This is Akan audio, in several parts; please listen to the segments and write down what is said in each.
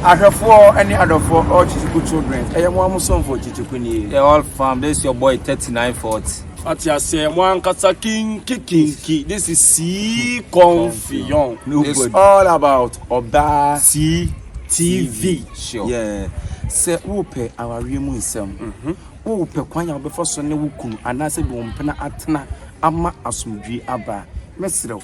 Ahwɛfoɔ ne adɔfoɔ all Chichiku children ɛyɛ mo mo somfo Chichiku nie. The whole fam this is your boy 3940. Ɔte aseɛ mo ankasa kinki kinki this is sii confion. It's all about ɔbaa sii TV. Sure. Yeah. Sɛ wopɛ awareɛ mu nsɛm mhm. wopɛ kwan a wobɛfa so ne wo kunu anaasɛ bi wo mpena atena ama asomdwie aba mɛserɛ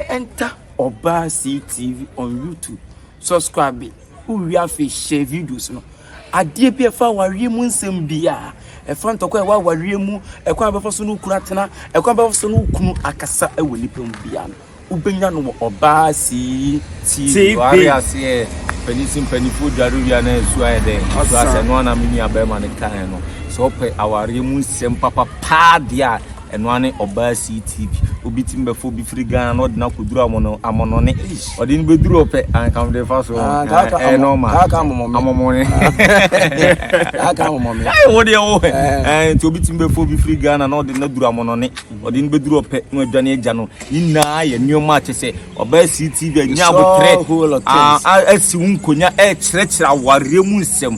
Enter Obaa Cee TV on YouTube, subscribe it, wo wie afei share videos no. Adeɛ bi ɛfa awareɛ mu nsɛm biara, ɛfa ntɔkwa ɛwɔ awareɛ mu, ɛkwan abɛfa so no kunu atena, ɛkwan abɛfa so no kunu akasa ɛwɔ nipa mu biara no. Wobɛnya no wɔ Obaa Cee TV. Wari aseɛ, panisi mpanifoɔ dware wia na ɛsu ayɛ dɛ. Ɛsu asɛ no ana me nua bɛrima no kaeɛ no. Sɛ ɔpɛ awareɛ mu nsɛm papapaa deɛ a, Ɛno ara ne ɔbaa CTV. Obi tumi bɛfa obi firi Ghana na ɔde no akɔduru amono, amonone. Ɔde no bɛduru hɔ pɛ, anka mede fa so. Ah, kaa ka Ɛyɛ amo- normal. kaa ka amomɔ me. Amomone. Kaa ka amomɔ me. Ai, wo deɛ wo hɛ. Eh. Eh, nti obi tumi bɛfa obi firi Ghana na ɔde no aduru amonone. Ɔde no bɛduru hɔ pɛ na wadwane agya no. Ne nyinaa yɛ nneɛma a kyɛ sɛ ɔbaa CTV anya It's all abotrɛ. whole of Ah, things. a- asi wo nkonya ɛrekyerɛkyerɛ awareɛ mu nsɛm.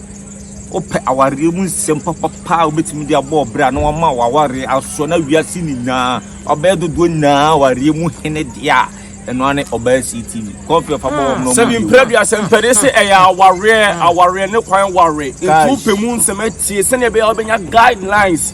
Wopɛ awareɛ mu nsɛm papapaa a wobɛtumi de abɔ ɔbrɛ a na wama w'awareɛ asoɔ na wiase nyinaa ɔbɛyɛ dodoɔ nyinaa awareɛ mu hene deɛ a ɛno ara ne ɔbaa sii tv kɔfe fa bɔ wɔn na sɛbi mpira bi asɛmpɛde sɛ ɛyɛ awareɛ awareɛ ne kwan ware nti wopɛ mu nsɛm atie sɛdeɛ ɛbɛyɛ wobɛnya guidelines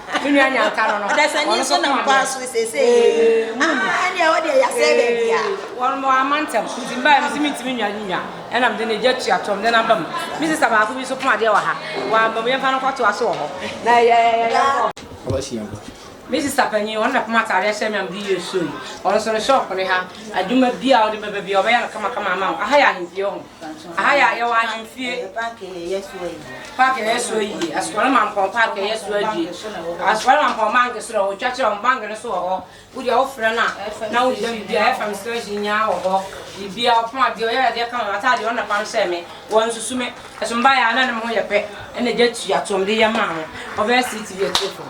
Me nua nya nka no no. Ɔdasani nso nam kwan so seesei yei. Ah, ɛne ɛwɔ deɛ yɛasɛe baabi a. Wɔn mo ama ntɛm. Nti mbae mi si mi ntumi nwa ne nwa. Ɛna mede ne gya tua tɔm de no aba mu. Me sista baako bi nso pon adeɛ wɔ ha. Wamba mu, yɛmfa no nkɔtoa so wɔ hɔ. Na yɛ, yɛ, yɛ, yɛnkɔ. Ɔbɛsi yɛn bo. Me sista panyin, ɔno na pom ataadeɛ hyɛ me a mede yɛ show yi. Ɔno nso ne shop ne ha. Adwuma biara a wode bɛba biara, ɔbɛyɛ no kama kama ama wo. Aha yɛ ahempie, ɔho. Aha yɛ ayɛwɔ ahemfie. Paaki a yɛyɛ so ayie. Paaki a yɛyɛ so ayie. Asukɔre mampɔn paaki a yɛyɛ so adwie. Asukɔre mampɔn banki so na wɔtwa kyerɛ wɔn banki no so wɔ hɔ. Wode a wofrɛ no a na wogyina biribi a FM station nyinaa wɔ hɔ. Biribi a ɔpɔn adeɛ ɔyɛ adeɛ ka wɔn ataadeɛ wɔn na pam sɛ me. Wɔn nsusu me. Ɛso mbaeɛ a na ne ho yɛ pɛ. Ɛna gya tua to wɔn de yɛ maa ho. Ɔbɛyɛ seat bi akyire fam.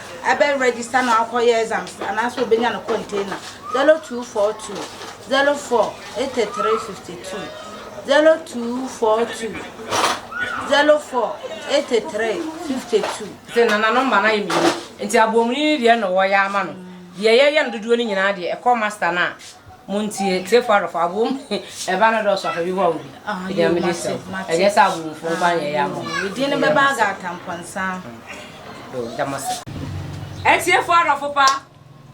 Ɛbɛ register no akɔ yɛ exams no anaa sɛ obenya no container zero two four two zero four eighty three fifty two zero two four two zero four eighty three fifty two. Sɛ nana no mma no ayɛ mmienu nti aboɔmuni no deɛ na wɔyɛ ama no deɛ yɛyɛ no dodoɔ no nyinaa deɛ ɛkɔ master no a montie tiefo adɔfo aboom ɛba no dɔɔso afa bi hɔ a obi ah, ɛdeɛ mede sɛ ɛnyɛ sɛ aboomfo nkwa nyɛ yɛ ama ɛdin no bɛba aga atampɔnsa do da mo ase. Etsiefoɔ adɔfo pa,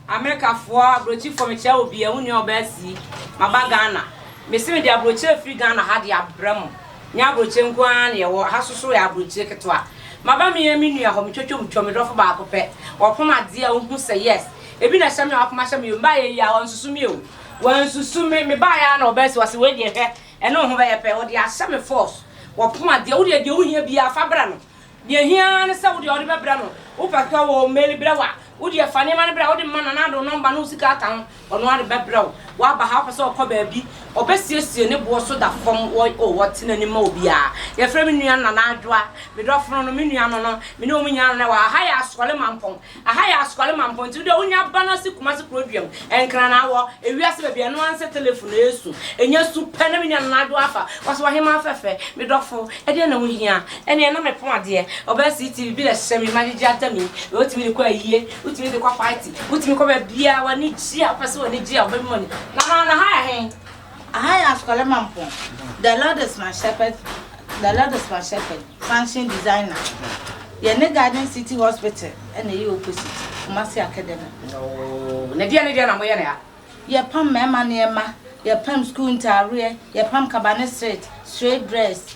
Amerikafoɔ, abrokyifoɔ, mekyia wo bia, wo nua ɔbaa sii, maba Ghana, mese mede abrokyi afiri Ghana ha de abrɛ mo, nyɛ abrokyi nko ara na yɛwɔ, ha so so yɛ abrokyi ketewa, maba me yɛn me nua hɔ, metwatwa mu twa, me dɔfo baako pɛ, ɔpom adeɛ a ɔhu sɛ yes, ebi na ɛhyɛ me a wapom ahyɛ me o, me baayɛ yi a wansusu me o, wansusu me, me baayɛ a na ɔbaa sii, wase wei deɛ hwɛ, ɛne wo ho bɛyɛ pɛ, ɔde ahyɛ me force, ɔpom adeɛ, wo deɛ deɛ wohia biara fa brɛ no. Deɛ ɛhia ara ne sɛ wo deɛ wode bɛbrɛ no. Wopɛ sɛ ɔwɔ mail brɛ wo a, wo deɛ fa nneɛma no brɛ a wode ma no anaa de wo nɔmba ne wo sika aka ho, ɔno ara de bɛbrɛ wo. Woaba ha a, wopɛ sɛ ɔkɔ baabi, ɔbɛsiesie ne boɔ so da fam wɔ oh, ɔte n'anim ma obiara. Yɛfrɛ me nua Nana Adwoa, me dɔfono no, me nua no no, me ne wɔn nyinaa na na ɛwɔ ha. Ha yɛ Asoɔle Mampɔn. Aha yɛ Asukwalu Mampɔn ntsi wodua wonya ba na se Kumase kuro dua mu nkran na awɔ ewiase baabi a ɛno ara nse telefon na esu enya su pɛ na me nua no n'adwo afa wase w'ahemaa fɛfɛ me dɔfo ɛdeɛn na wohia ɛneɛ na mepon adeɛ ɔbaa sii TV bi na ɛhyehyɛ me ma gyegye atam yi wei wotumi de kɔ ayie wotumi de kɔ party wotumi kɔ baabiaa w'ani gye a wopɛ se w'ani gye a wobɛma mu Nana Nahaya he. Aha yɛ Asukɔlɛ Mampong. The Lord is my shepherd, the Lord is my shepherd, function designer. Yɛ ne Garden City Hospital ɛna ɛyɛ opposite Kumasi Academy. Ooo, na deɛ ne deɛ na mo yɛ ne ha? Yɛ pam mɛɛma nneɛma, yɛ pam school ntaareɛ, yɛ pam kaba ne shirt, straight dress,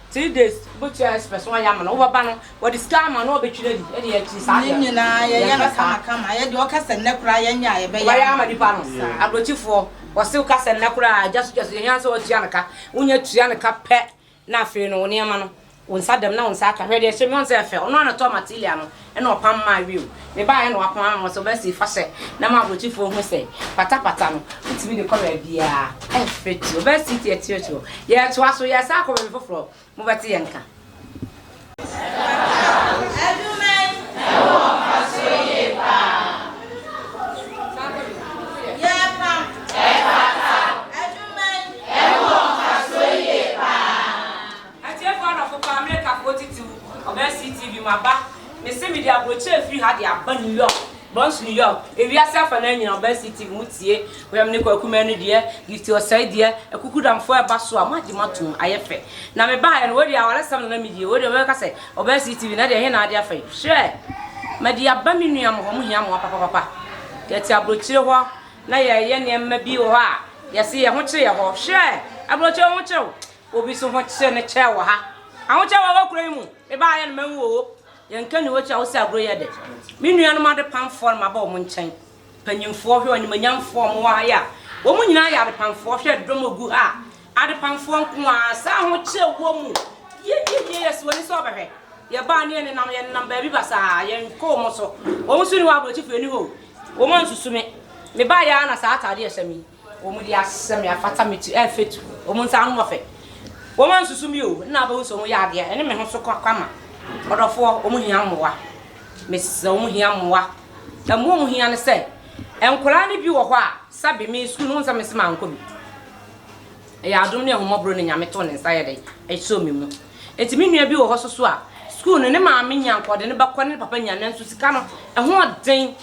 Three days wobɛtua express wɔn ayɛ ama no wobɛba no wɔde sika ama no ɔbɛtwi no adi ɛde akyiri saa deɛ ne nyinaa yɛyɛ no kama kama yɛ deɛ ɔka sɛ nnɛ koraa yɛnyɛ a yɛbɛyɛ ama nipa no abrɔkyifoɔ wɔse woka sɛ nnɛ koraa agya so gya so yɛhia sɛ wɔtua no ka wonya tua no ka pɛ na afei no wo nneɛma no wo nsa dɛm na wo nsa aka hwɛ deɛ ɛhyɛ me ɔn sɛ ɛfɛ ɔno anatɔ matilia no na ɔpam maa wim. Mebaeɛ na wapam ama me sɛ ɔbɛsi fa hyɛ na ma aborɔkyifoɔ hu sɛ patapata no wotumi de kɔ baabiara ɛmfiri ti ɔbɛsi ti ɛti ɛti hɔ yɛtoa so yɛsan akɔ baabi foforɔ mobɛte yɛn nka. Atiefo adɔfo paa, mereka fo titiriw ɔbaa CTV mu aba. Mese mede aburokyire firi ha de aba New York, Bronx New York, ewiase afa no ara nyinaa ɔbaa CTV mo tie, Wɛm ne Kwaku Manu deɛ, Gifty Osei deɛ, Akuku Damfoɔ ɛba so a mo agye mo atom, ayɛ fɛ. Na me baeɛ no, wei deɛ awaresɛm na na me die, wei deɛ wobɛka sɛ ɔbaa CTV na deɛ ɛhe na ade afa yi, hwɛ! Mede aba me nua mo hɔ, mo hia mmoa papapapa. Yɛte aburokyire hɔ na yɛreyɛ nneɛma bi wɔ hɔ a yɛse yɛn ho kyere yɛn hɔ, hwɛ! Aburokyire wo ho kyere wo, Obi so ho kye ne kyɛɛ wɔ ha. Ahokyɛ wɔ wɔ kuro yi mu. Me ba ayɛ no ma nwu oo. Yɛn ka ni wɔkyi a wosi agorɔ yi ɛdɛ. Me nua nom ade pamfoɔ no maba wɔn nkyɛn. Panyinfoɔ hwɛ ɔnimonyamfoɔ wɔn wɔ ha yi a. Wɔn nyinaa yɛ ade pamfoɔ hwɛ ɛdɔm ɔgu ha a. Ade pamfoɔ nko ara saa ahokyɛ wɔ mu. Yieyie yɛsi w'ani sɛ ɔbɛhwɛ. Yɛ baa ne yɛ ne nam yɛ ne nam baabi basaa yɛn kɔ wɔn so. Wɔn nso ni hɔ abrɔkyifo yɛ ni hɔ oo. Wɔn ansusu me. Me ba yɛ ara na saa ataadeɛ ɛhyɛ me yi. Wɔde asesa me afata me ti ɛfetu wɔn nsa ano wɔfɛ wɔn ansusu me o nna abɛhu sɛ wɔn yɛ adeɛ ɛne me ho so kwa kwama ɔdɔfoɔ wɔn hia mmoa mesrɛ wɔn hia mmoa ɛmmoa wɔn hia ne sɛ nkwadaa no bi wɔ hɔ a sɛbe me sukuu no wɔn sɛ mese mankɔ bi ɛyɛ adom ne ahomɔborɔ ne nyame too ne nsa yɛ dɛ ɛsɔ me mu eti me nua bi wɔ hɔ soso a sukuu no ne maame nya nkɔde ne bɛkɔ ne papa nya nanso sika no ɛho ɔden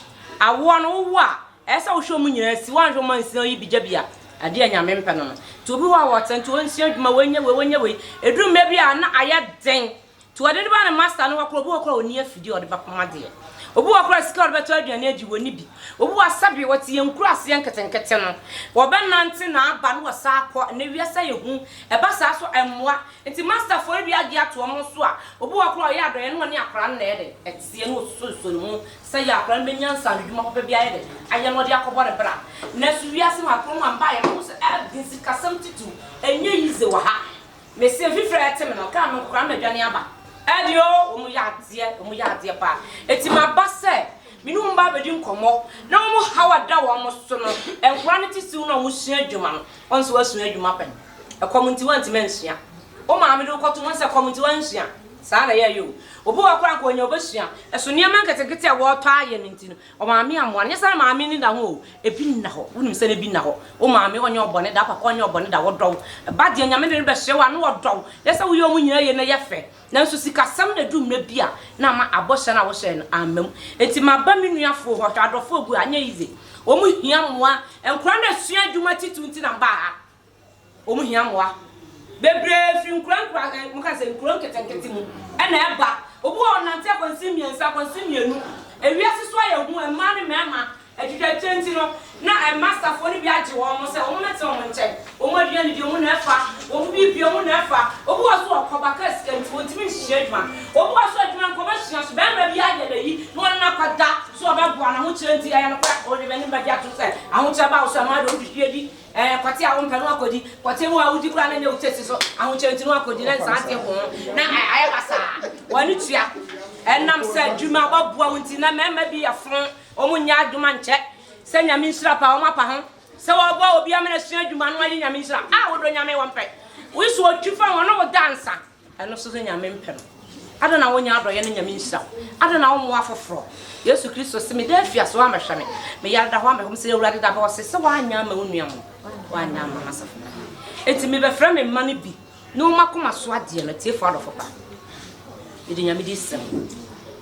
awoɔ no wowo a Ɛyɛ sɛ wohwɛ wɔn nyinaa si, woanhwɛ wɔn ansi na woyi bi gya bi a, ɛdeɛ yɛ Nyame mpɛ no no. Nti obi hɔ a ɔwɔ tent, ɔnsua adwuma, ɔnyɛ wei, ɔnyɛ wei, ɛduru mmerɛ bi a na ayɛ den, nti wɔde no ba ne master no hɔ koraa, obi hɔ koraa a ɔnni afidie a ɔde bɛpam adeɛ, obi hɔ koraa a sika a ɔde bɛtɔ aduane adi ɔnni bi, obi hɔ a sɛdeɛ wɔte yɛn nkuraaseɛ nketenkete no, wɔbɛnante na aba na wɔsan akɔ, ɛnnɛ wiase ayɛ hu, ɛba saa nso ɛmmoa, nti masterfoɔ no bi agye ato wɔn so a, obi hɔ koraa a ɔyɛ adɔeɛ na ɔne akwadaa no na ɛyɛ dɛn? Ɛteɛ na ɔsosɔsosɔ ne mu Sɛ yɛn akwadaa no bɛnya nsaano adwuma papa bi ayɛ dɛ ayɛ na ɔde akɔbɔ ne bra. Nanso wiase no akoma mu a mbaeɛ no wo sɛ ah din sikasɛm titiriw ɛnyɛ yize wɔ ha. Me se mfifire a ɛte me no kaa me nko koraa na madwane aba. Ɛde o wɔn yɛ adeɛ wɔn yɛ adeɛ paa enti maba sɛ me ne wɔn ba abɛdi nkɔmmɔ na wɔn haw a ɛda wɔn so no nkwadaa no titiriw no a wɔsua adwuma no wɔn nso wɔasua adwuma pɛn. Ɛkɔm nti wantumi ansua. Wo maame de wo kɔto ho sɛ ɛkɔm nti wansua? Saa na yɛyɛ o. Obi wɔ hɔ koraa anka ɔnya ɔbɛsua. Ɛso nneɛma nketenkete a wɔretɔ ayɛ no nti no, ɔmaame ammoa no. Nyɛ sɛ na maame nni da ho o, ebi nna hɔ. Wonim sɛ ebi nna hɔ. Wo maame ɔnyɛ wo bɔne da, wo papa ɔnyɛ wo bɔne da, wɔdɔ wo. Ba deɛ Nyame de no bɛhyɛ wo a na wɔdɔ wo. Nyɛ sɛ woyɛ wɔn nyinaa yie na ɛyɛ fɛ. Nanso sikasɛm na ɛdu mmerɛ bi a na ama abɔhyɛ no a wohyɛɛ no amma mu. Nti maba me nuafoɔ hɔ, hwɛ adɔfoɔ gu ha, ɛnyɛ easy. Wɔn hia mmoa. Nkwadaa no resua adwuma titiriw nti na mbaa ha. Wɔn hia mmoa bebree firi nkura nkura ɛ moka sɛ nkuro nketenkete mu na ɛba. Obi wɔ hɔ ɔnante akwansin mmiɛnsa, akwansin mmienu. Ewiase so ayɛ hu, mmaa ne mmarima atwitwakyire nti no, na masterfoɔ no bi agye wɔn sɛ wɔn mmɛtena wɔn nkyɛn. Wɔn aduane deɛ wɔn na ɛfa, wɔn biribi biara wɔn na ɛfa. Obi wɔ hɔ nso ɔkɔba kaa sika nti ɔntumi nhyia adwuma. Obi wɔ hɔ nso adwuma nka ɔbɛsua so, barima bi ayɛ n'ayi na ɔne no akɔda so ɔbɛboa no, ahokyerɛ nti, ɛyɛ nokorɛ, ɔde n'anim bɛgye atom sɛ ahokyerɛ ba wo so a, mmaa deɛ wɔn hwehwie di. Ɛɛ, kɔte a wompɛ no akodi. Kɔte mu a wudi koraa na ɛnyɛ wo taste so. Ahokyere nti no akodi na nsa ate ho na ayɛ basaa. W'ani tua. Ɛnam sɛ adwuma a wɔaboa wo nti na mmarima bi yɛ fo, wɔnyɛ adwuma nkyɛ sɛ Nyame nhyira paa, wɔapa ho sɛ wɔboa obi ama no asua adwuma na wayɛ Nyame nhyira. Ah, wodɔ Nyame, wɔmpɛ. Wo so otwi fa wɔn na woda nsa. Ɛno nso ne Nyame mpɛ no. Adɛn na wonyɛ adɔeɛ ne Nyame nhyira wo? Adɛn na wommoa afoforɔ? Yesu Kristo se, Meda afiase, woammɛhwɛ me. Meyare da hɔ ammɛhwɛ me. Sɛ Awurade da hɔ a, ɔse sɛ woanyɛ amma wo nua mu, woanyɛ amma m'asafo no mu. Enti mebɛfrɛ me mma no bi ne wɔn akoma so adeɛ no, atiefoɔ adɔfo pa. Mede Nyame din srɛ mo.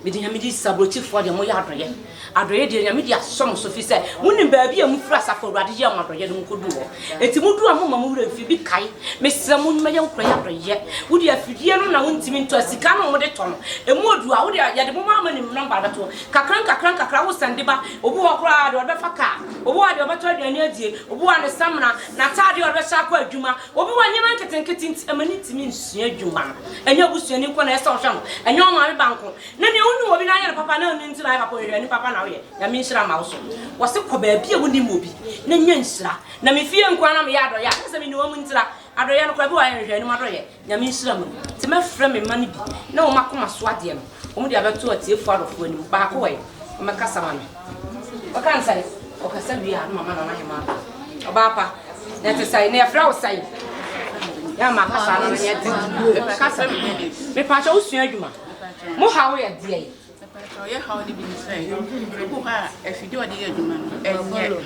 Mede Nyame di sa abrokyifoɔ deɛ moyɛ adɔyɛ adɔyɛ deɛ Nyame de asɔ mo so fisɛ monim baabi a mofiri asafo awurade yɛɛ mo adɔyɛ no mokɔduu hɔ enti moduu a momma mo werɛ mfiri bi kae mesrɛ mo nyɛ nkorɔyɛ adɔyɛ wode afidie no na wontimi ntɔ asika no mode tɔ no ɛmu ɔdu a wode yɛde mo maa mani number bɛto kakra nkakra nkakra wo sɛnde ba obi wɔ koraa deɛ ɔde bɛfa kaa obi wɔ deɛ ɔbɛtɔ aduane adie obi wɔ ne samina nataadeɛ ɔde bɛhyɛ akɔ adwuma Obi wɔ nneɛma nketenkete nti ɛma no ntumi nsua adwuma no. Ɛnyɛ wo busuani nko na ɛsɛ sɛ ɔhwɛ no, ɛnyɛ wo maame ba nko. Na nea wonim obi na ayɛ no papa na wonim nti na ayɛ papa, ɔhwehwɛni papa na woyɛ. Nyame nhyira mma wo so. Wɔse kɔ baabi a wonim obi na nya nhyira. Na me fie nko ara na meyɛ adɔyɛ a, kyɛsɛ mene wɔn ntira. Adɔyɛ no koraa ebi wɔ hɔ a yɛnhwehwɛ anim adɔyɛ. Nyame nhyira mo. Nti mɛfrɛ me mma no bi na wɔn akoma so adeɛ no. Wɔde abɛto atiefo adɔfo anim. Baako ɛ, ɔmmɛkasa ma me. Ɔka no sɛn? Ɔkasa wie a, na mama Nana Hema aba. Ɔbaa pa, na ɛte sɛn? Na yɛfrɛ wo sɛn? Yɛ ama kasa no no yɛ den. Mepɛka sɛ me, mepaakyɛ wo sua adwuma. Mo haw yɛ deɛ yi. Mepaakyɛ yɛ haw no bi ne sɛ, ebu hɔ a afidie ɔde yɛ adwuma no, ɛnyɛ.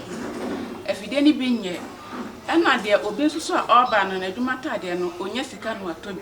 Afidie no bi nyɛ. Ɛna deɛ obi nso so a ɔba no, n'adwuma ataadeɛ no, ɔnya sika na watɔ bi.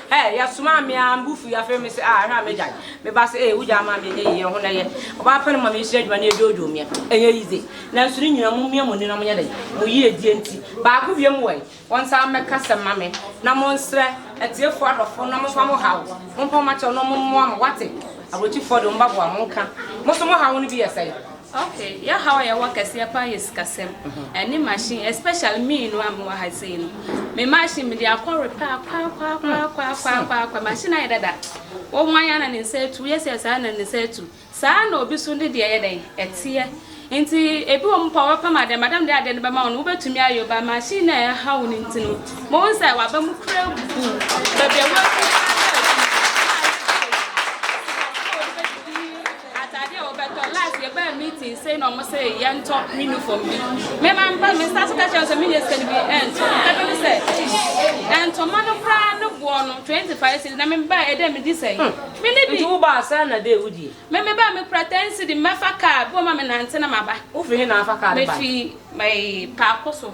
Ɛɛ, yɛsomaa me ara, me bo fui, afei mese, ah, hwɛ a m'agya no. Me ba se, ee, wo gya ama me, ɛnyɛ yiye, ɛho na ɛyɛ. Ɔbaa pɛ no ma mesua adwuma no yɛ dwoodwoo meɛ, ɛnyɛ yize. Nanso ne nyinaa, mommia mo ani na monyɛ dɛn? Mo yiedie nti. Baako biom wɔ he? Wɔnsan mmɛka asɛm mma me, na monsrɛ atiefoɔ adɔfoɔ no na momfa mo haw, mompa mo akyɛw na wɔmmoa mo, woate? Aburokyifoɔ de, wɔn ba boa mo, nka. Mo nso mo haw no bi yɛ sɛn? Ok yɛ haw a yɛwɔ kɛseɛ paa yɛ sikasɛm ɛne machine especially me no a mewɔ ha sei no me machine mede akɔ repair kwaakwaakwaakwaakwaakwa machine ayɛ dada wo wan a na ne nsa atu woyɛ sɛ saa na ne nsa atu saa na obi so ne deɛ yɛ dɛn ɛteɛ nti ebi wɔ mu pa wɔbɛpam adeɛ madam de adeɛ no bɛma wo no wobɛtumi ayɛ ba machine na ɛha wo no nti no mo wo sɛ waba mu kura bu baabi a wɔatu Atade a wɔbɛtɔ. Last yɛbaa meeting sei na wɔn sɛ yɛntɔ uniform bi. Me ma mpa me nsa so ka kyerɛ sɛ menyɛ sika no bi ɛnto. Ɛbɛ no sɛ ntoma no koraa no boɔ no twenty five cedi na me baa ɛdɛ medi sɛn. Me ne bi. Nti wobaa saa na dɛ wodie. Me me baa me kura ten cedi mɛfa car bi wɔn ma me nante na maba. Wofiri he na afa car no bae. Mefiri ɛɛ paako so.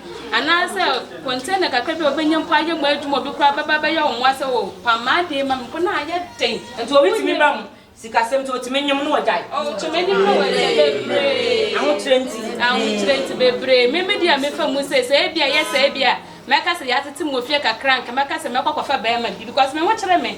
Anaasɛ container kakra bi a obenya mpo ayɛ mo adwuma, obi koraa bɛba abɛyɛ wo mmoa sɛ, oh, pam m'ade ma me mpo na ayɛ den. Nti obi tumi ba mo sikasɛm nti otumi nyem na wagyae. Oh, kyɛ m'anim na wagyae bebree. Ahokyerɛ nti. Ahokyerɛ nti bebree. Me me deɛ a mefa mu sei, sɛ ebia ɛyɛ sɛ ebia mɛka sɛ yɛatete me wɔ fie kakra a, anka mɛka sɛ mɛkɔ akɔfa barima bi because me ho kyere me.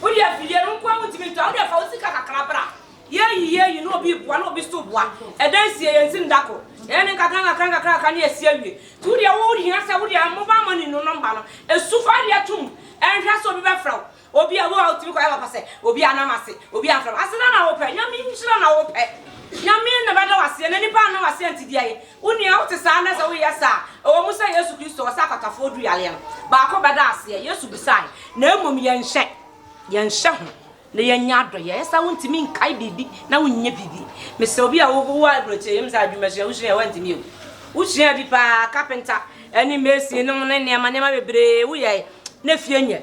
Wo deɛ afidie no nkoa wontumi ntɔ a wo deɛ fa wo sika kakra bra yɛyi yɛyi na obi boa na obi nso boa ɛda nsie yɛn nsi nda ko yɛyɛ ne nkakra nkakra nkakra nkakra ne yɛsi awie nti wo deɛ wo hia sɛ wo deɛ mobile money no number no esu fa adeɛ tom ɛnhwɛ sɛ obi bɛfrɛ wo obi a wo a wotumi kɔyɛ papa sɛ obi a nam ase obi a mfrɛ wo aseda na wopɛ nyame nhyira na wopɛ nyame na bɛda wo aseɛ na nipa anna wo aseɛ nti deɛ yɛ Wo nua, wote saa nnɛ? Sɛ woyɛ saa a, ɛwɔ mu sɛ Yesu Kristo ɔsa akwatafoɔ duru yareɛ no baako bɛda aseɛ. Yesu bisae, na mmom yɛnhyɛ yɛnhyɛ ho na yɛnyɛ adɔeɛ. Ɛyɛ saa a wontumi nkae biribi na wonyɛ biribi. Mesɛ obi a wowɔ aburokyire, yɛnim sɛ adwumasua wosua a woantumi yɛ o, wosua bi paa, kapenta ne masonnom ne nneɛma nneɛma bebree woyɛe na fie nyɛ.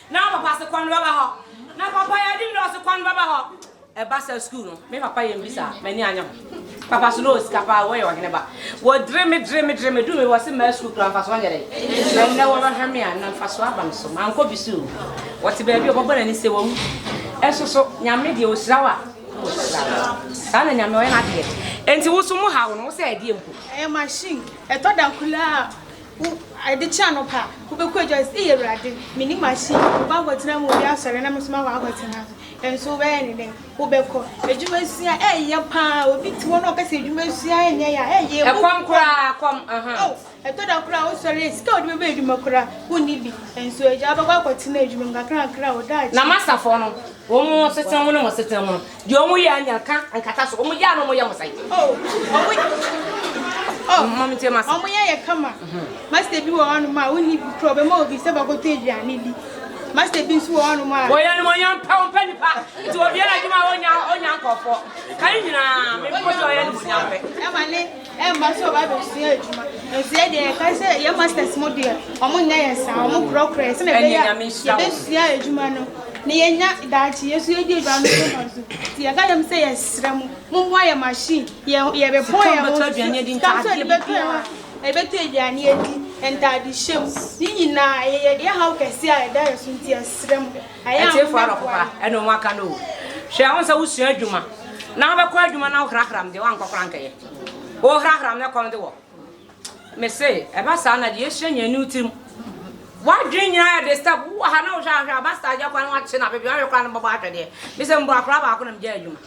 Na papa se kwan bɛba hɔ. Na papa yɛ adi dɔɔso kwan bɛba hɔ. Ɛba saa sukuu no me papa yɛ mbi saa m'ani anyɛ ho. Papa so na ɔwɔ sika paa wɔyɛ ɔhene ba. Wɔdire me dire me dire me duru baabi wɔse mmaa sukuu koraa mfasoɔ nyɛ dɛn. Na nnɛ wɔbɛhwɛ me a na mfasoɔ aba me so mankɔ bi so o. Ɔte baabi a ɔbɛbɔ n'ani sɛ wawu. Nso so Nyame deɛ ɔhyira wo a na ɔhyira wo. Saa na Nyame ɔyɛ n'adeɛ. Enti wo so mo haw no wo sɛ ɛdeɛ mpo. Ɛyɛ machine ɛtɔ da koro a. Wo, ɛde kyɛ anɔpa a, wobɛkɔ adwa sɛ, Ei Awurade, menni machine, wobɛ akɔtena mu, obi asɔre na me nso makɔ akɔtena so. Ɛnso wobɛyɛ ne dɛn? Wobɛkɔ. Adwuma sua, ɛyɛ pa ara. Obi te hɔ na ɔka sɛ adwuma sua ɛnyɛ ya, ɛyɛ ɛbu Ɛkɔm kɔm. koraa, kɔm, aha. Oh, ɛtɔ da koraa a wosɔre a, sika a wode bɛbɔ adwuma koraa, wonni bi. Ɛnso agya, wobɛkɔ akɔtena adwuma mu, nkakrankakra a, wo daakye. Na m'asafoɔ no, wɔn asetena mu ne mo asetena mu no, Deɛ ɔmo yɛ anya ka nkata so. Ɔmo gyaa no ɔmo yɛ mo sɛn. Oh, ɔmo yɛ. Mami tie ma sa. Ɔmo yɛ yɛ kama. Master bi wɔ hɔ nom a wonni bi kura ɔbɛma obi sɛ bɛkɔtɔ aduane di. Master bi nso wɔ hɔ nom a. Wɔyɛ no wɔnyɛ mpɛ ɔmpɛ nipa. Nti obiara adwuma a ɔnya ɔnya nkɔfoɔ. Kan nyinaa mepɔ sɛ ɔyɛ no wɔnya mpɛ. Ɛma ne. Ɛmma sɛ ɔba abɛsua adwuma. Nanso yɛn deɛ yɛkae sɛ yɛn masters mo deɛ wɔn nyɛ yɛn saa, wɔn korɔkorɔ yɛn sɛnea ɛbɛyɛ a yɛbɛsua adwuma no na yɛnya daakye yɛn so yɛdi adwuma no so mfaso. Nti yɛka kyerɛ wɔn sɛ yɛsrɛ mo mommoa yɛn machine, yɛn yɛbɛbɔ yɛn ho so, sika nso yɛde bɛtɔ yɛn ho yɛbɛtɔ aduane adi, ntaadehyɛ mu, ne nyinaa yɛyɛ yɛhaw kɛseɛ a ɛda yɛn so nti yɛsrɛ mo. Atiefo ara ɔpopa ɛna ɔmo aka no o. Hwɛ ɔn sɛ wo sua adwuma na wo bɛkɔ adwuma na wo hrahram deɛ wankɔ kora ankɛyɛ. Wo hrahram na ɛkɔm de wɔ. Mese ɛba saa na deɛ ɛhyɛ nyɛ ani wo tirim. Wadwene nyina yɛ disturb wo wɔ ha na wo hwɛ ahwɛ aba saa agya kora na wakye no abɛbi wahwɛ kora no bɔbɔ ahwɛ deɛ. Mese mboa kora baako na megyae adwuma.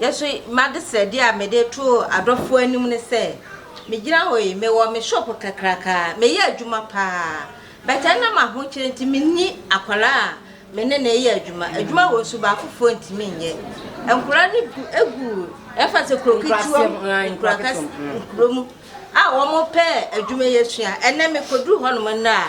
Nanso m'adesrɛdeɛ a mede to adɔfoɔ anim ne sɛ, megyina hɔ yi, mewɔ me shop kakraka, meyɛ adwuma pa ara, but ɛnam ahokyerɛ nti menni akwadaa a me ne no reyɛ adwuma, adwuma wɔ nso baakofoɔ ntumi nyɛ, nkwadaa no gu gu ɛmfa sɛ kuro ketewa mu, nkura kɛse, nkuro mu a wɔpɛ adwuma yi asua, ɛnnɛ mekɔduru hɔnom nnɛ a.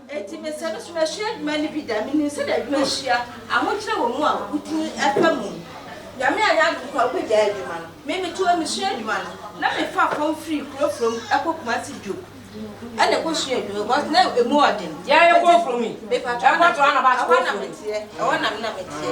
Enti mesɛ no nso masua adwuma no bi da. Menim sɛdeɛ adwuma sua, ahokyerɛ wɔ mu a wotumi pa mu. Nyame anyɛ adom koraa a wobɛgyae adwuma no. Me meto hɔ mesua adwuma no, na mefa fam firi kuro kuro mu kɔ Kumasi Dwo na ɛkɔsua adwuma because na ɛmu ɔden. Deɛ ɛrekɔ Mfromi, ɛhɔ na meteɛ, ɛhɔ na me na meteɛ.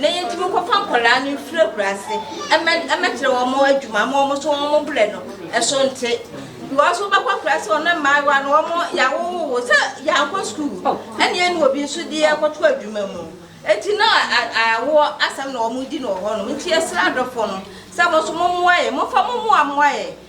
Na yɛtumi kɔfa nkwadaa no firi akuraase ɛmɛ ɛmɛkyerɛ wɔn mo adwuma ama wɔn so wɔn mo brɛ no ɛso nte because wobɛkɔ akuraase wɔn mmaayewa no wɔn yɛawowo wo sɛ yɛankɔ sukuu ɛne ɛne obi nso de ɛkɔto adwuma mu eti na awoɔ asɛm na wɔn di no wɔ hɔ nom nti yɛsrɛ adɔfoɔ no sɛ wɔn nso mo mmoa yɛ mofa mo mmoa mmoa yɛ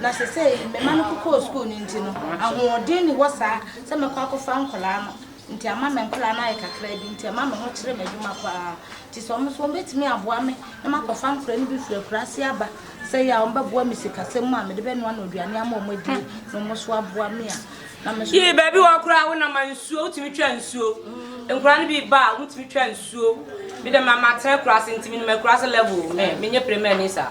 Na sesei me mma no kokɔɔ sukuu no nti no, ahoɔden nni hɔ saa sɛ mɛkɔ akɔfa nkwadaa no. Nti ama me nkwadaa no ayɛ kakraa bi, nti ɛma me ho kyere me adwuma pa ara. Nti sɛ wɔn nso wɔbɛtumi aboa me na makɔfa nkwadaa no bi firi akuraase aba, sɛ yɛ a wɔbɛboa me sikasɛm mu a mede bɛnoa no aduane ama wɔn adie na wɔn nso aboa me a, na me nso. Yii baabi hɔ koraa wo na ma nsuo, wotumi twa nsuo. Nkwadaa no bi ba a, wotumi twa nsuo. Me deɛ ma matena akuraase nti menim akuraase level, me, menyɛ pere mɛni saa.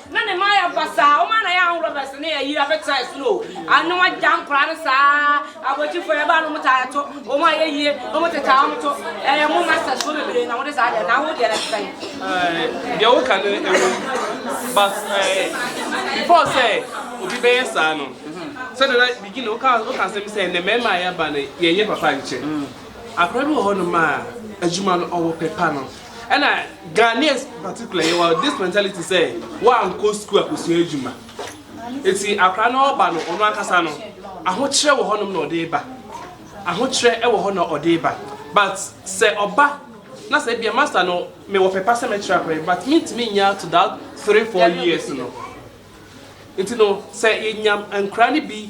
Na ne mma yɛ basaa, wɔn ara na yɛ ahobrɛbrɛs ne ayi abɛtena ɛsono o, ano agya nkwadaa no saa, abɔgyifoɔ yɛ ba no wɔn taa to, wɔn a yɛ yie no wɔn te taa wɔn to, ɛyɛ mo mma sɛ soɔ bebree na wɔde saa deɛ, na wo deɛ no te sɛn? Ɛɛ, deɛ woka no ɛwɔ mu, but ɛɛ, before sɛ obi bɛyɛ saa no, sɛdeɛ na beginning woka woka asɛm sɛ ne mmarima a yɛaba no yɛnyɛ papa nkyɛ, akwadaa bi wɔ hɔnom a adwuma no ɔwɔ pɛ pa no. Ɛna Ghanaians particularly yɛwɔ this mentality sɛ wankɔ sukuu akɔsua adwuma ɛti akora no ɔba no ɔno ankasa no ahokyerɛ wɔ hɔnom na ɔde ba ahokyerɛ ɛwɔ hɔ na ɔde ba but sɛ ɔba na sɛ bia master no mewɔ pɛpa sɛ mɛkyerɛ akora but mentumi nya to that 3-4 years no nti no sɛ yɛnya nkora no bi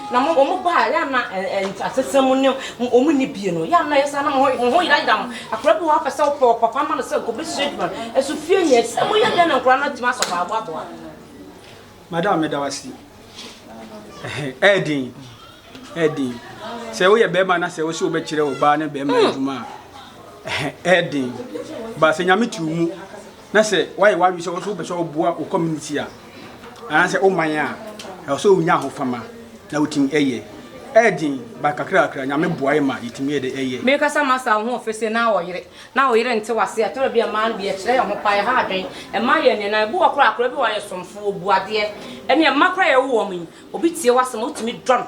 Na mo wɔn ba a yɛ ana asesɛ mu ne wɔn ni bie no yɛ ana yɛ saa na mo ho ho yerayera mo akora bi wɔ apɛ sɛ wɔpɛ papa ma no sɛ nkɔbɛ sua adwuma no ɛso fie nyɛ sɛ mo yɛ dɛn na nkora no atumi asɔ hɔ aboaboa. Madam meda wase ɛyɛ den ɛyɛ den sɛ woyɛ bɛrima na sɛ wosɛ wobɛkyerɛ wo baa ne bɛrima hmm. adwuma a ɛyɛ den baasɛ nyame tiw mu na sɛ wayɛ w'adwene sɛ wo nso wopɛ sɛ woboa wo community a anaasɛ wo man a ɛwɔ sɛ wonya ahofama na wotumi ɛyɛ ɛden ba kakrakra nyame boae ma yɛtumi yɛ de ɛyɛ mekasa masa wo ho ofese na ɔyere na ɔyere nte wase ɛtɔrɔ bi ɛmaa no bi ɛkyerɛ yɛn ho pa ɛha adwen ɛma yɛn nneɛma ebi wɔ koraa koraa bi wɔ ayɛ somfo obu adeɛ ɛne ɛma koraa yɛwo wɔn yi obi tie wasɛm a wotumi dɔ no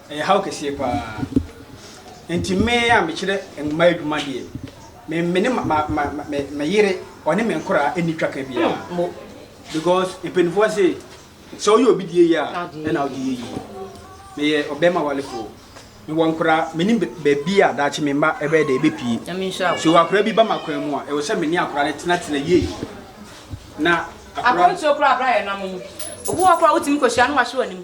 Ɛyɛ haw kɛseɛ paa. Nti me a mekyerɛ mmaa adwuma deɛ, me me ne ma ma me me yere ɔne me nkoraa ɛnni twaka biara. Hmm. Because mpanimfoɔ se sɛ woyɛ obi deɛ yie a ɛna wode yɛ yie. Meyɛ ɔbɛrima walefoɔ. Mewɔ nkoraa, menim baabi a daakye me mma ɛbɛyɛ dɛ ɛbɛpie. So akora bi ba ma kwan mu a, ɛwɔ sɛ me ne akora no tenatena yie. Na akora... Akwantuo koraa abra yɛ nam mu. Obi wɔ koraa wotumi kɔhyia no wahye w'anim.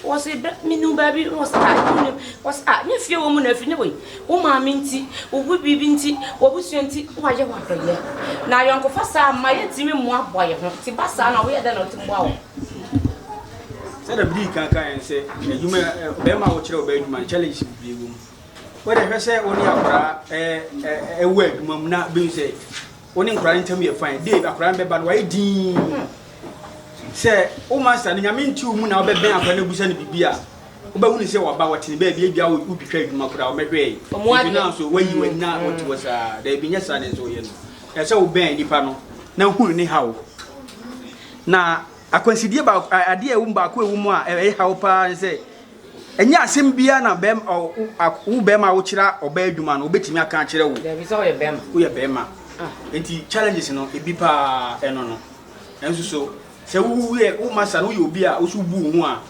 Wɔse bɛ menu baabi na wɔse ah menu no wɔse ah nyɛ fie wɔ mu na afiri ne wei wo maame nti wo bu biribi nti w'abusua nti wayɛ w'adɔyɛ na ayɔnkofa saa mma yɛntumi mmoa boa yɛ ho ti ba saa na woyɛ dɛ na wotumi boa wɔ sɛ na bidii kan kan yɛn sɛ adwuma bɛrima a wɔkyerɛ ɔbaa adwuma no challenges bebree wɔ mu wode hwɛ sɛ wo ne akwaraa ɛwɔ adwuma mu na bɛhu sɛ Wo ne nkwadaa no ntam yɛ fine. Dave, akwadaa no bɛba no, wayɛ dinn. Sɛ wo master no, nyame nti wo mu na wobɛbɛn akwadaa no abusa no biribi a, wobɛhu ne sɛ waba, wɔtene baabi, ebia wotwitwa adwuma koraa, wɔmɛhwɛe. Ebi no nso, wayi w'ani na wɔte hɔ saa. Daabi, nyɛ saa na ɛsɛ woyɛ no. Ɛsɛ sɛ wobɛn nipa no na hu ne haw. Na akwansideɛ baako, adeɛ a ɛwom baako a ɛwom a ɛyɛ haw paa ne sɛ, Ɛnyɛ asɛm biara na bɛrima wo a wo bɛrima a wokyerɛ ɔbaa adwuma no obetumi aka akyerɛ wo. Dabi sɛ ɔyɛ bɛrima. Woyɛ bɛrima. Ah. Nti challenges no ebi paa ɛno no. Ɛnso so sɛ wo yɛ wo masa no woyɛ obi a woso bu wo ho a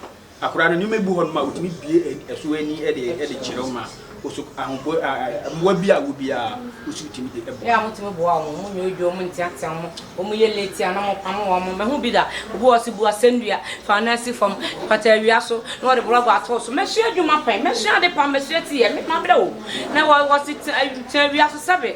akwadaa no nneɛma bi wɔ hɔ nom a otumi bue ɛso ani ɛde ɛde kyerɛ wo ma. Osu ahoboa a mmoa bi a wobi a osu tumi de bɔ. Yɛ a motumi boa wɔn, monyɛ odwo, monteatea wɔn, wɔyɛ late a na mopamo wɔn. Mahu bi da, obi wɔ hɔ ɔse bu asɛnnua, fa wo nan si fam, pata awia so na wɔde borɔgɔ ato wo so. Masua adwuma pɛn, masua ade pa, masua tiyɛ, me mabrɛ o. Na wɔse tena awia so sɛbe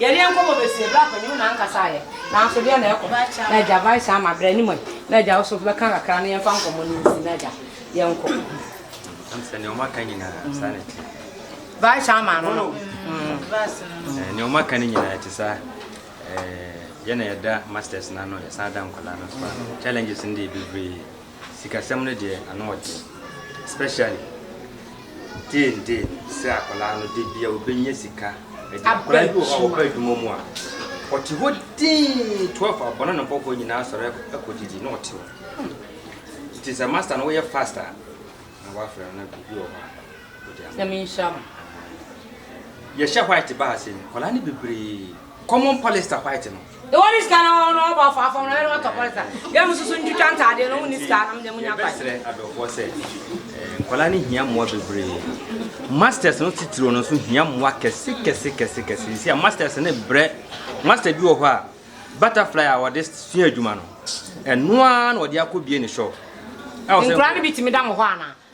Yɛnee nkɔmmɔ bɛsiee berɛ a panin no ankasa ayɛ. Nanso deɛ na ɛkɔ? Na agya, Vice ama berɛ anim ɛ. Na agya wo nso bɛka kakra na yɛmfa nkɔmmɔ no nsi. Na agya, yɛnkɔ. Ɛm sɛ deɛ wɔaka nyinaa saa na ɛte. Vice ama no no. Deɛ wɔaka no nyinaa ɛte saa. Yɛ na yɛda masters no ano, yɛsan da nkwadaa no nso ano. Challenges no deɛ bebree. Sikasɛm no deɛ ano ɔden especially day in day no sɛ akwadaa no da biara ɔbɛnya sika adi. Akwadaa bi wɔ hɔ a ɔba adwuma mu a ɔte hɔ dinn twelve abɔ na ne nkurɔfoɔ nyinaa sɔre kɔdidi na ɔte hɔ. Nti sɛ master no woyɛ fast a na woafrɛ no na biribi wɔ hɔ a wode ama. Sɛ menhyira mo. Yɛhyɛ white ba ha sɛ ni, nkwadaa no bebree common polyester white no. Deɛ wɔn ne sika na wɔn na wɔbɔ afɔ afɔm na wɔn na wɔtɔ pɔlisa. Deɛ wɔn soso ntwitwa ntaadeɛ na wɔn ne sika na wɔn deɛ wɔn nya kwan. Yɛbɛsrɛ adɔfoɔ sɛ eh, nkwadaa no hia mmoa bebree. Masters no titiriw no nso hia mmoa kɛse kɛse kɛse kɛse. Sisi a masters no brɛ master bi wɔ hɔ a butterfly a wɔde sua adwuma no ɛno ara na wɔde akɔ bie ne shop. Nkwadaa no bi tumi da mo hɔ anaa?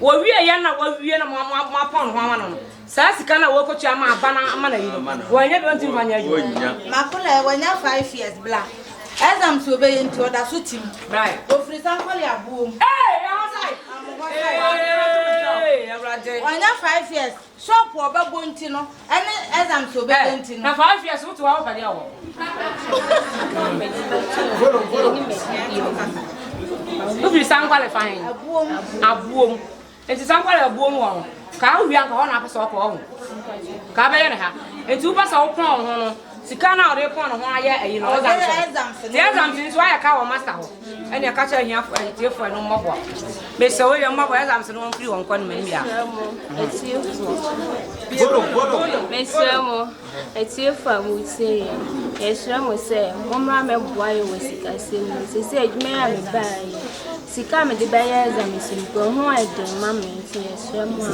Wɔwie yɛ na wɔwie na moapɔn no ho ama no no, saa sika no a wɔkɔtua ama aba no ama no ayi no, wɔannya bi ɔntumi mfa nyɛ adwuma. Makola, wanya five years bla. Exams a ɔbɛyɛ nti ɔda so tim. Ɔfiri Sankole Aboɔ mu. Wanya five years. Shop a ɔbɛbɔ nti no ɛne exams a ɔbɛyɛ nti no. Ɛ na five years wote w'awo pɛdeɛ wɔ. Wofiri sankwale fa he? Abuom. Abuom. Nti sankwale abuom wɔ ho. Kaa wowia nka hɔ na apɛ sɛ ɔkɔ ɔho. Kaa bɛyɛ ne ha. Nti wopɛ sɛ wopɔn ho no. Sika no a ɔde repɔn ne ho ayɛ ayi no, exemption. Ti exemption nso ayɛ ka wɔ master hɔ. Ɛne ɛka kyerɛ ahiafo ɛyɛ tiefo ɛno mmɔboa. Mesɛ wo yɛ mmɔboa exemption no wɔn firi wɔn kɔ no mɛ mmea. Mesɛ mo atiefo a mo tie yɛ. Yɛsrɛ mo sɛ mo mmra mɛ boa yɛ wɔ sikasɛm mu. Sɛ sɛ adwuma yɛ a me baa yɛ. Sika me de bɛyɛ exemption kura ho ɛden ma me nti yɛsrɛ mo a.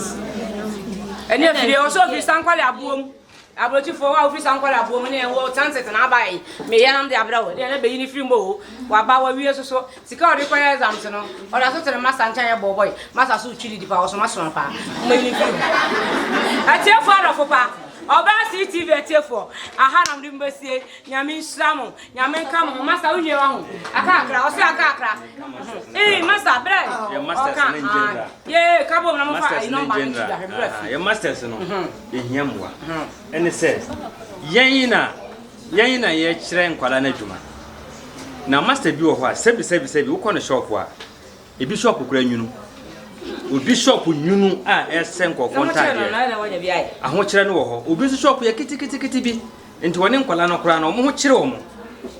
Ɛne afidie ɔsɛ ofiri sankwale aboɔ mu. Abrokyifoɔ wo a wofiri saa nkɔlaafoɔ mu ne yɛn wɔ transit na aba yi me yɛnam de abrɛ wo deɛ na bɛyi ne firi mbɔ o waba wawie soso sika ɔde kɔyɛ exams no ɔda so tene masa nkyɛn yɛ bɔɔbɔe masa so twiri dipa ɔso masoma paa mmayi ne firi mu atiefoɔ adɔfo pa ɔbaa CTV atiefoɔ aha nam de mbɛsie nyame nhyira mo Nyame nka mo ho masa wo wie wahu akakra ɔsɛ akakra ee masa brɛ ɔka aa yee ka bom na mo fa ayi nɔmba no nkyida hwɛ brɛ fi yɛ masters no yɛhia mmoa ɛne sɛ yɛn na yɛn na yɛkyerɛ nkwala no adwuma na master bi wɔ hɔ a sɛbi sɛbi sɛbi wokɔ no shop a ebi shop kora nwunu obi shop nwunu a ɛsɛ nkɔfoɔ ntaadeɛ ahokyerɛ no wɔ hɔ obi nso shop yɛ kitikitikiti bi Nti wɔne nkwadaa no koraa no wɔn ho kyere wɔn.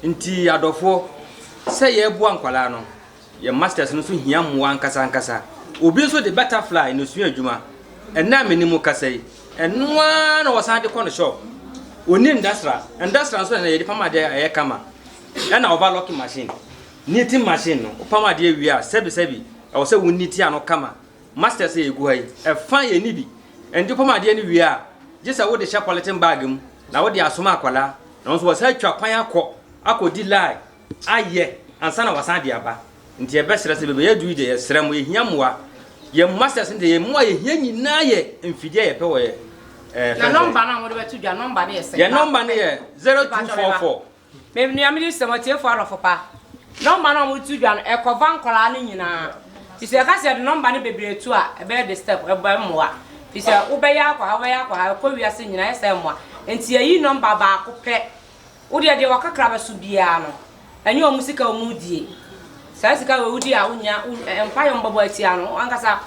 Nti adɔfoɔ, sɛ yɛreboa nkwadaa no, yɛn masters no nso hia mmoa ankasa ankasa. Obi nso de butterfly na osua adwuma. Ɛnnɛ a me ne mo kasa yi, ɛno ara na ɔsan de kɔ ne shop. Onni ndasra, ndasra nso ɛnna yɛde pam adeɛ a ɛyɛ kama. Ɛna overlocking machine, knitting machine no, wopam adeɛ wie a, sɛbi sɛbi, ɛwɔ sɛ wo knit ano kama Masters a egu ha yi, fa yɛ nni bi. Ɛngye pam adeɛ no wie a, gye sɛ wode hyɛ pɔleten bag mu na wode asoma akwadaa na ɔno nso wasan atwa kwan akɔ akɔdi line ayɛ ansa na wasan de aba. Nti yɛbɛsrɛ sɛ bɛbɛyɛ aduru yi deɛ yɛsrɛ mo, yɛhia mmoa. Yɛn Masters no deɛ yɛn mmoa a yɛhia nyinaa yɛ mfidie a yɛpɛ wɔ yɛn ɛɛ. Na nɔmba no a mode bɛto dwa, nɔmba no yɛ sɛn? Yɛn nɔmba no yɛ zero two four four Me nua mede sɛ mɔtiefo adɔfo pa nɔmba no a wɔde to dwa no ɛkɔfa nkwadaa no nyinaa fisɛ yɛka sɛ yɛde nɔmba no bebree to a ɛbɛyɛ disturb ɛbɛ mmoa fisɛ wobɛyɛ akɔ ha wobɛyɛ akɔ ha ɛkɔ wiase nyinaa yɛ sɛ mmoa nti yɛyi nɔmba baako pɛ wodeɛ deɛ wakakra bɛso biara no ɛnyɛ wɔn sika wɔn die Saa sika a wudi a wunnya mpae a wɔbɛbɔ atia no, wo ankasa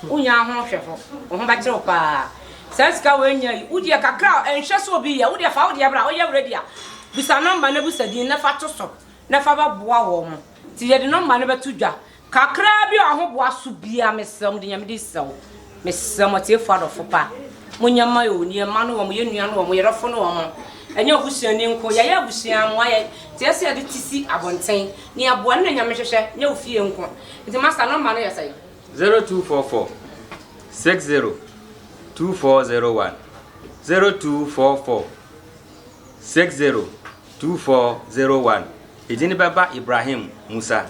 wunnya ho hwɛfo. Wo ho bɛkyere wo paa. Saa sika a woannya yi, wo deɛ kakra a ɛnhwɛ sɛ obi yɛ, wo deɛ fa wo deɛ bra. Woyɛ ready a, bisa nɔmba na bisa din na fa to so na fa bɛboa wɔn. Nti yɛde nɔmba no bɛto dwa. Kakraa bi a wɔboa so biara, mesrɛ wo, mede Nyame din srɛ wo. Mesrɛ mo atiefo adɔfo pa, monyɛ mma o, nea mma no wɔn, yɛn nua no wɔn, yɛrɛfo no wɔn, ɛnyɛ obusuani nko, yɛayɛ abusua, mo ayɛ, nti ɛsɛ sɛ yɛde ti si abɔnten, nea ɛboa no na Nyame hwehwɛ, nyɛ wo fie nko, nti Master nɔmba no yɛ sɛn? Zero two four four six zero two four zero one zero two four four six zero two four zero one edin bɛba Ibrahim Musa.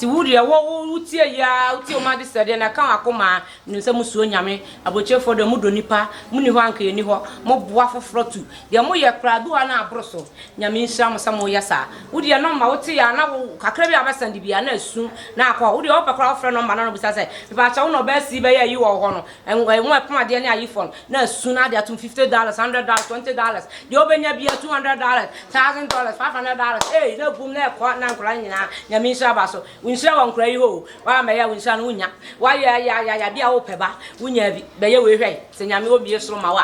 Nti wo deɛ wo wo wo tie yi aa wo tie ɔmo adesrɛdeɛ na ɛka wakoma aa menim sɛ mo suro nyame abrokyerefɔ deɛ ɔmo dɔ nipa mo ni hɔ a anka yɛ ni hɔ mo boa foforɔ tu deɛ mo yɛ koraa ebi hɔ a na aboro so nyame nhyira mo sɛ mo yɛ saa wo deɛ nɔmba wo te yɛ a na wo kakra bi a wobɛ sɛnde biaa na asu na akɔ hɔ wo deɛ ɔpɛ koraa wo frɛ nɔmba na na obisa sɛ mepaakyɛw wo na ɔbaa sii bɛyɛ ayi wɔ wo hɔ no Nguan mu ɛpono adeɛ ne ayefo no, na asu no ade atom fifty dollars, hundred dollars, twenty dollars, deɛ ɔbɛnya biara two hundred dollars, thousand dollars, five hundred dollars, eei na agum na ɛkɔ na nkwadaa no nyinaa Nyame nhyira ba so. Wo nhyira wɔ nkwadaa yi hɔ o, woammɛyɛ a wo nhyira no wonnya. Woayɛ a yɛ a yɛ a yɛ a bi a wopɛ ba, wonyaa bi, bɛyɛ wei hwɛ, sɛ Nyame ɔmmue soro mma wo a.